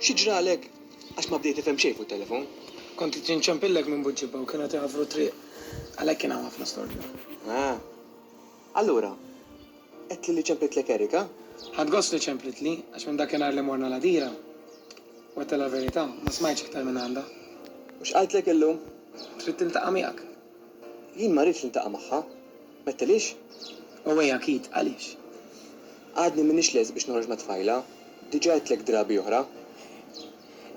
Xi ġralek? Għax ma bdejt tifhem xejn fuq it-telefon? Kont qed inċempillek minn Buġġibha u kienu qed iħaffru t-triq. Għalhekk kien hawn ħafna storbju. Ah. Allura, għedtli li ċemplitlek Erika? Ħadt gost li ċemplitli, għax minn dakinhar li morna l-għadira, u għedtha l-verità, ma smajtx iktar minn għandha. U x'qaltlek illum? Trid tiltaqa' miegħek? Jien ma rridx niltaqa' magħha. M'għedtilix? Owej akid, għaliex? Għadni m'iniex lest biex noħroġ mat-tfajla, diġà għedtlek drabi oħra.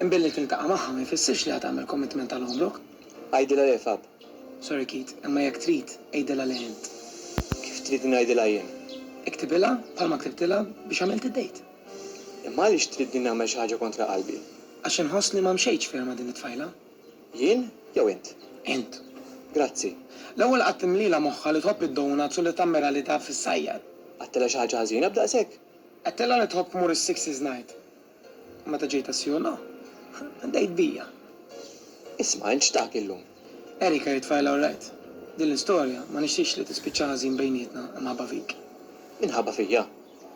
Imbilli tiltaqa' magħha ma jfissirx li ħa tagħmel commitment għal għomrok. Għidilha l-għefab. Sorry Keith, imma jekk trid, għidilha lil int. Kif tridni ngħidilha jien? Iktibilha bħalma ktibtilha biex għamilt id-dejt. Imma għaliex tridni nagħmel xi ħaġa kontra qalbi? Għax inħoss li ma mxejtx ferm ma' din it-tfajla. Jien jew int? Int. Grazzi. L-ewwel qatt imlielha moħħha li tħobb id-donuts u li tammira li taf issajjar. Għedtilha xi ħaġa ħażina b'daqshekk? Għedtilha li tħobb tmur is-Sixes Night. Meta ġejt għas-Siona, għaddejt bija. Isma' int x'tat illum? Erika hi tfajla orrajt. Din l-istorja ma nixtieqx li tispiċċa ħażin bejnietna imħabba fik. Minħabba fija?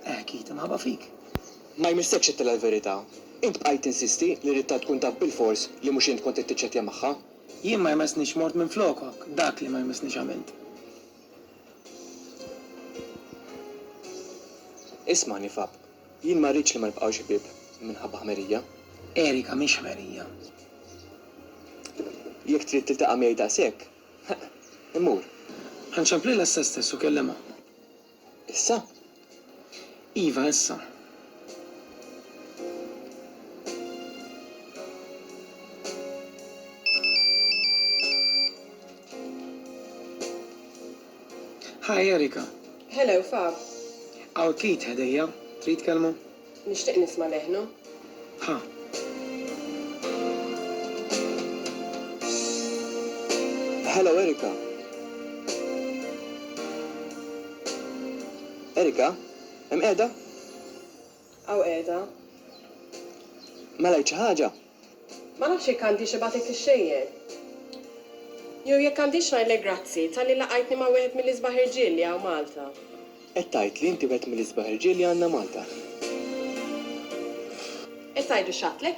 Eh, Keith, imħabba fik. Ma jmissekx għedtilha l-verità. Int bqajt tinsisti li ridtha tkun taf bilfors li mhux int kont qed tiċċettja magħha. Jien ma jmessnix mort minflokok, dak li ma jmessnix għamilt. Isma' nifab. Jien ma rridx li ma nibqgħux ħbieb minħabba ħmerija. Erika mhix ħmerija. Jekk trid tiltaqa' miegħi daqshekk, ħeqq, immur. Ħa nċemplilha issa stess u kellimha. Issa? Iva, issa. Hi Erika. Hello Fab. Hawn Keith ħdejja, trid tkellmu? Nixtieq nisma' leħnu. Ħa. Hello Erika. Erika, hemm qiegħda? Hawn qiegħda. Mela għidt xi ħaġa? Ma nafx jekk għandix ibagħtek ix-xejjer. Jew jekk għandix ngħidlek grazzi talli laqajtni ma' wieħed mill-isbaħ irġiel li hawn Malta. Qed tgħid li inti wieħed mill-isbaħ irġiel li għandna Malta? Qed tgħidu x'għadtlek?